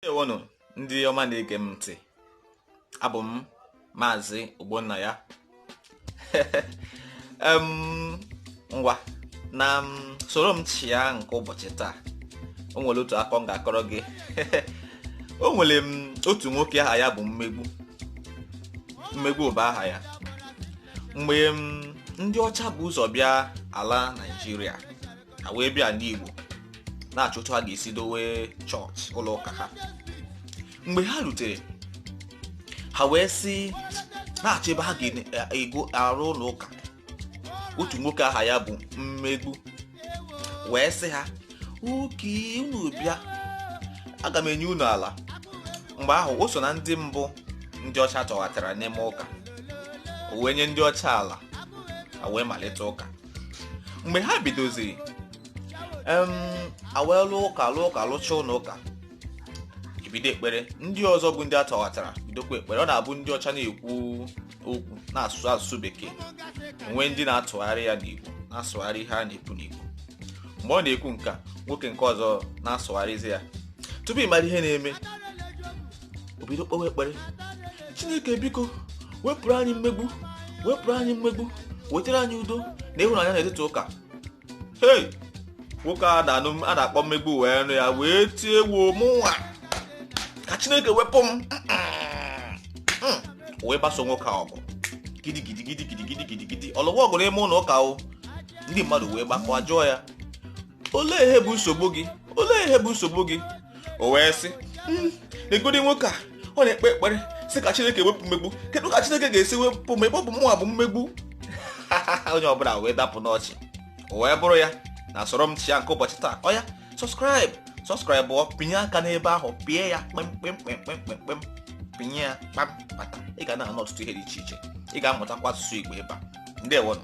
ndewonụ ndị ọma na-ege m ntị abụ m maazị ogbonnaya ngwa na soro m chịa nke ụbọchị taa o nwere otu akọ m ga-akọrọ gị o nwere m otu nwoke aha ya bụ mmegbu mmegbu bụ aha ya mgbe ndị ọcha bu ụzọ bịa ala naijiria ha wee bịa n'Igbo na-achọ otu ha ga-esi dowe chọọchị ụlọ ụka ha mgbe ha rutere ha wee sị na-achọ ebe ha ga-ego arụ ụlọ ụka otu nwoke aha ya bụ mmegbu wee sị ha okay unu bịa aga m enye unu ala mgbe ahụ o so na ndị mbụ ndị ọcha tọghatara n'ime ụka o wee nye ndị ọcha ala wee malite ụka mgbe ha bidoziri em e wee lụọ ụka lụọ ụka lụcha ụlọ ụka e bido ekpere ndị ọzọ bụ ndị a tọghatara bidokwa ekpere ọ na-abụ ndị ọcha na-ekwu okwu na-asụ asụsụ bekee o nwee ndị na-atụgharị ya n'igbo na-asụgharị ihe a na-ekwu n'igbo mgbe ọ na-ekwu nke a nwoke nke ọzọ na-asụgharịzi ya tupu ị mara ihe na-eme o bido kpewe ekpere chineke biko wepụrụ anyị mmegbu wepụrụ anyị mmegbu wetara anyị udo na ịhụnanya n'etiti ụka hei nwoke a na-akpọ mmegbu wee nụ ya wee tie ewo mụnwa ka chineke wepụ m hmm. wee gbaso nwoke a ọgụ gidigidi gidigidi gidigidi ọ lụwa ọgụ n'ime ụlọ ụka o ndị mmadụ wee gbakọ jụọ ya olee ihe bụ nsogbu gị olee ihe bụ nsogbu gị o wee sị hmm, negodi nwoke a ọ na-ekpe ekpere sị ka chineke wepụ mmegbu kedu ka chineke ga-esi wepụ m ebe ọ bụ mụnwa bụ mmegbu onye ọbụla wee dapụ n'ọchị o wee bụrụ ya na soro m chịa nke ụbọchị taa oya subscribe subscribe o pịnye aka n'ebe ahụ pịa ya kpemkpemkpemkpemkpem pịnye ya kpam bata ị ga na-anụ ọtụtụ ihe dị iche iche ị ga-amụtakwa asụsụ igbo ebe a ndewonụ